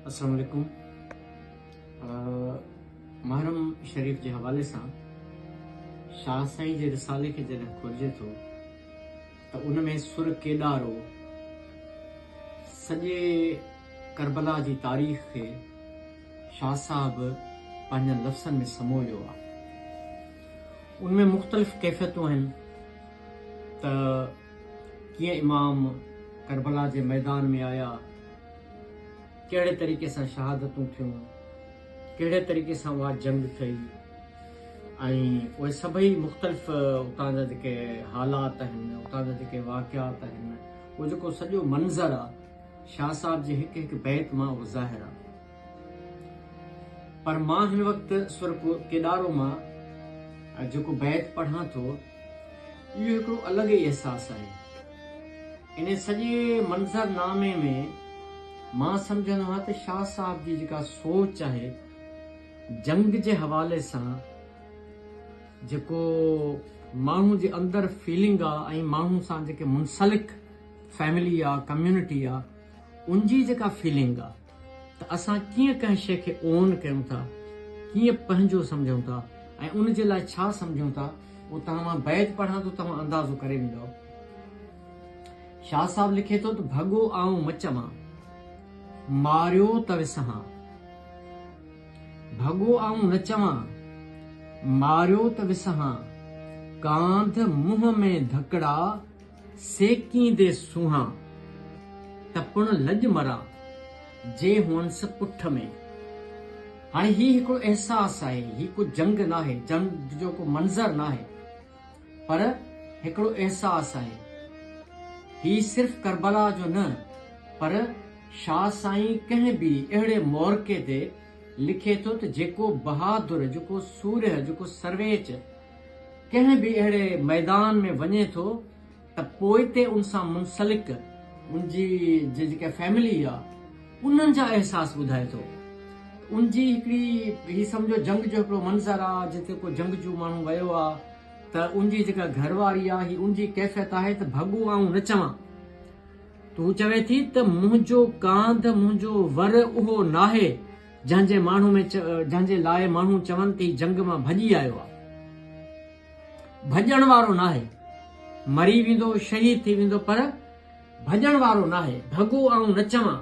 السلام عليڪم محرم شريف جي حوالي سان شاهه سائين جي رسالي کي جڏهن کولجي ٿو ته ان ۾ سر ڪيڏارو سڄي ڪربلا جي تاريخ کي شاهه صاحب پنهنجن لفظن ۾ سمويو آهي ان ۾ مختلف ڪيفيتون آهن ته ڪيئن امام ڪربلا جي ميدان ۾ آيا، ڪهڙي طريقي سان شهادتون ٿيون، ڪهڙي طريقي سان اها جنگ ٿئي ۽ اهي سڀئي مختلف اتان جا جيڪي حالات آهن، اتان جا جيڪي واقعات آهن، اهو جيڪو سڄو منظر آهي، شاهه صاحب جي هڪ هڪ بيت مان اهو ظاهر آهي. پر مان هن وقت سر ڪيڏارو مان جيڪو بيت پڙهان ٿو، اهو هڪڙو الڳ ئي احساس آهي. ان سڄي منظر نامي ۾ مان سمجهندو آهيان ته شاهه صاحب جي جيڪا سوچ آهي، جنگ جي حوالي سان جيڪو ماڻهو جي اندر فيلنگ آهي ۽ ماڻهن سان جيڪي منسلڪ فيملي آهي، ڪميونٽي آهي، ان جي جيڪا فيلنگ آهي، ته اسان ڪيئن ڪنهن شيء کي Own ڪيون ٿا، ڪيئن پنهنجو سمجهون ٿا ۽ ان جي لاء ڇا سمجهون ٿا، اهو توهان مان بيت پڙهان ٿو توهان اندازو ڪري ويندؤ. شاهه صاحب لکي ٿو ته ڀڳو آئون مچ مان، ماريو ته وسهان. ڀڳو آئون نه چوان، ماريو ته وسهان، ڪانڌ منهن ۾ ڌڪڙا، سيڪيندي سونهان، ته پڻ لڄ مران، جي هئنس پٺ ۾. هاڻي هي هڪڙو احساس آهي، هي ڪو جنگ ناهي، جنگ جو ڪو منظر ناهي، پر هڪڙو احساس آهي. هي صرف ڪربلا جو نه، پر شاهه سائين ڪنهن ٻي اهڙي مورقعي تي لکي ٿو ته جيڪو بهادر، جيڪو سورهيه، جيڪو سرويچ، ڪنهن به اهڙي ميدان ۾ وڃي ٿو ته پوئتي ان سان منسلڪ ان جي جيڪا فيملي آ انهن جا احساس ٻڌائي ٿو ان جي هڪڙي هي سمجهو جنگ جو هڪڙو منظر آ جتي ڪو جنگ جو ماڻهو ويو آ ته ان جي جيڪا گهر واري آ هي ان جي ڪيفيت آهي ته ڀڳو آئون نه چوان ته هو چوي ٿي ته منهنجو ڪانڌ منهنجو ور اهو ناهي جنهن جي ماڻهو ۾ جنهن جي لاء ماڻهو چون ٿي جنگ مان ڀڄي آيو آ ڀڄڻ وارو ناهي مري ويندو شهيد ٿي ويندو پر ڀڄڻ وارو ناهي ڀڳو آئون نه چوان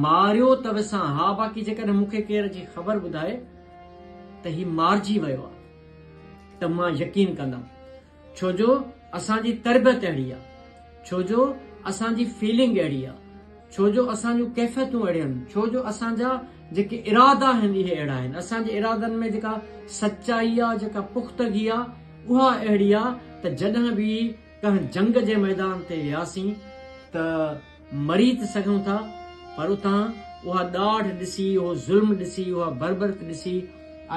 ماريو ته وسان ها باقي جيڪڏهن مون کي ڪير جي خبر ٻڌائي ته هي مارجي ويو آ ته مان يقين ڪندم ڇو جو اسان جي تربيت اهڙي آ ڇو جو اسان جي فيلنگ اهڙي آ ڇو جو اسان جون ڪيفيتون اهڙيون آهن ڇو جو اسان جا جيڪي ارادا آهن اهي اهڙا آهن اسان جي ارادن ۾ جيڪا سچائي آ جيڪا پختگي آ اها اهڙي آ ته جڏهن به ڪنهن جنگ جي ميدان تي وياسين ته مري ته سگهون ٿا پر اتان اها ڏاڍ ڏسي، اهو ظلم ڏسي، اها بربرت ڏسي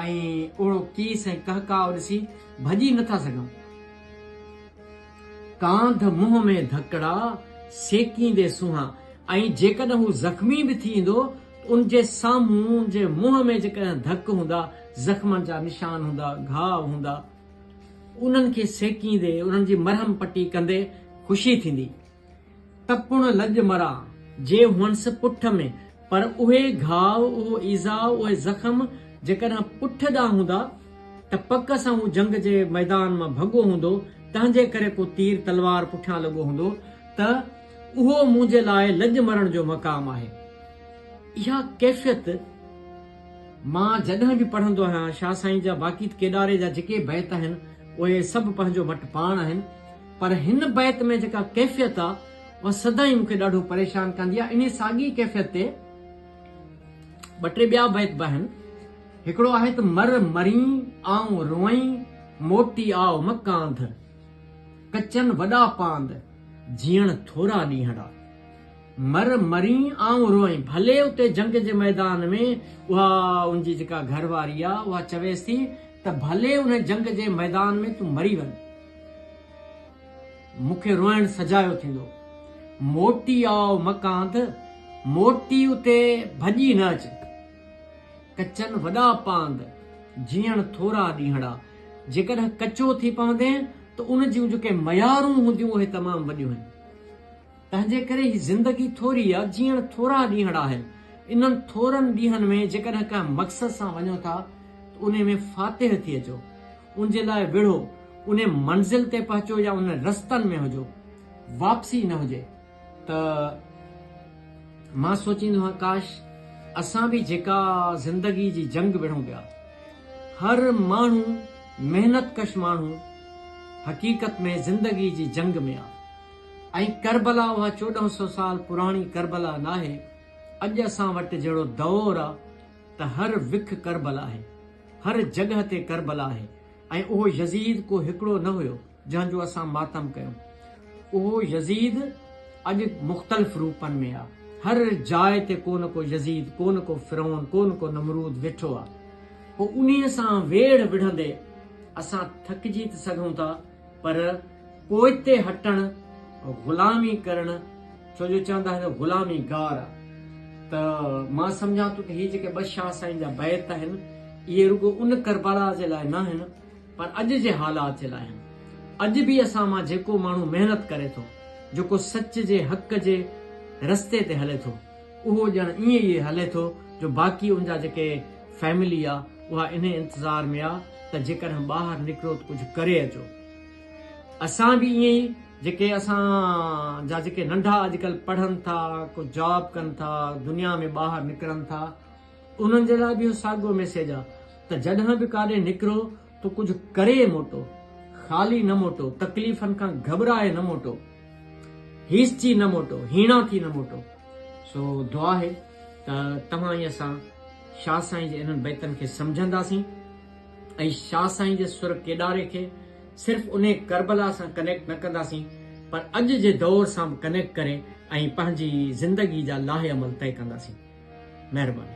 ۽ اهڙو ڪيس ۽ ڪهڪاء ڏسي ڀڄي نه ٿا سگهون. ڪانڌ منهن ۾ ڌڪڙا سيڪيندي سونهان ۽ جيڪڏهن هو زخمي به ٿي ايندو ته ان جي سامهون، ان جي منهن ۾ جيڪڏهن ڌڪ هوندا، زخمن جا نشان هوندا، گهاء هوندا، انهن کي سيڪيندي، انهن جي مرهم پٽي ڪندي خوشي ٿيندي. تپڻ لڄ مرا جي هئنس پٺ ۾، پر اهي گهاء، اهو ايذاء، اهي زخم جيڪڏهن پٺ ڏانهن هوندا ته پڪ سان هو جنگ جي ميدان مان ڀڳو هوندو، تنهنجي ڪري ڪو تير تلوار پٺيان لڳو هوندو ته اهو منهنجي لاء لڄ مرڻ جو مقام آهي. اها ڪيفيت مان جڏهن به پڙهندو آهيان، شاهه سائين جا باقي ته ڪيڏاري جا جيڪي بيت آهن، اهي سڀ پنهنجو مٽ پاڻ آهن. پر هن بيت ۾ جيڪا ڪيفيت آ اها سدائين مون کي ڏاڍو پريشان ڪندي آ انهي ساڳي ڪيفيت تي ٻه ٽي ٻيا بيت به آهن هڪڙو آهي ته مر مرين آئون روئين موٽي آء مڪاند ڪچن وڏا پاند جيئڻ ٿورا ڏينهڙا مر مرين آئون روئين ڀلي اتي جنگ جي ميدان ۾ اها ان جي جيڪا گهر واري آ اها چويس ٿي ته ڀلي ان جنگ جي ميدان ۾ تون مري وڃ مون کي روئڻ سجايو ٿيندو. موٽي آء مڪانڌ، موٽي اتي ڀڄي نه اچ. ڪچن وڏا پاند، جيئڻ ٿورا ڏينهڙا. جيڪڏهن ڪچو ٿي پوندين ته ان جون جيڪي ميارون هونديون اهي تمام وڏيون هن. تنهنجي ڪري هي زندگي ٿوري آ، جيئڻ ٿورا ڏينهڙ آهن. انهن ٿورن ڏينهن ۾ جيڪڏهن ڪنهن مقصد سان وڃو ٿا ته انهي ۾ فاتح ٿي اچو. ان جي لاء وڙهو، انهي منزل تي پهچو يا انهن رستن ۾ هجو. واپسي نه هجي. ته مان سوچيندو هان ڪاش اسان به جيڪا زندگي جي جنگ وڙهون پيا. هر ماڻهو محنت ڪش ماڻهو حقيقت ۾ زندگي جي جنگ ۾ آ. ۽ ڪربلا اها چوڏهن سئو سال پراڻي ڪربلا ناهي، اڄ اسان وٽ جهڙو دؤر آ ته هر وک ڪربلا آهي، هر جڳهه تي ڪربلا آهي ۽ اهو يزيد ڪو هڪڙو نه هيو جنهن جو اسان ماتم ڪيون، اهو يزيد اڄ مختلف روپن ۾ آ، هر جاء تي ڪو نه ڪو يزيد، ڪو نه ڪو فرعون، ڪو نه ڪو نمرود ويٺو آ. پوء انهيء سان ويڙهه وڙهندي اسان ٿڪجي ته سگهون ٿا، پر پوئتي هٽڻ غلامي ڪرڻ ڇو جو چوندا آهن غلامي گار آ ته مان سمجهان ٿو ته هي جيڪي ٻه شاهه سائين جا بيت آهن اهي رڳو ان ڪربلا جي لاء ناهن پر اڄ جي حالات جي لاء آهن اڄ به اسان مان جيڪو ماڻهو محنت ڪري ٿو جيڪو سچ جي حق جي رستي تي هلي ٿو اهو ڄڻ ائين ئي هلي ٿو جو باقي ان جا جيڪي فيملي آ اها انهي انتظار ۾ آ ته جيڪڏهن ٻاهر نڪرو ته ڪجهه ڪري اچو. اسان به ائين ئي جيڪي اسان جا جيڪي ننڍا اڄڪلهه پڙهن ٿا ڪو جاب ڪن ٿا دنيا ۾ ٻاهر نڪرن ٿا انهن جي لاء به اهو ساڳيو ميسيج آ ته جڏهن به ڪاڏي نڪرو تو ڪجهه ڪري موٽو، خالي نه موٽو، تڪليفن کان گهٻرائي نه موٽو، هيسجي نه موٽو، هيڻا ٿي نه موٽو. سو دعا آهي ته توهان ۽ اسان شاهه سائين جي انهن بيتن کي سمجهنداسين ۽ شاهه سائين جي سر ڪيڏاري کي صرف انهي ڪربلا سان ڪنيڪٽ نه ڪنداسين پر اڄ جي دؤر سان به ڪنيڪٽ ڪري ۽ پنهنجي زندگي جا لائحه عمل طئي ڪنداسين. مهرباني.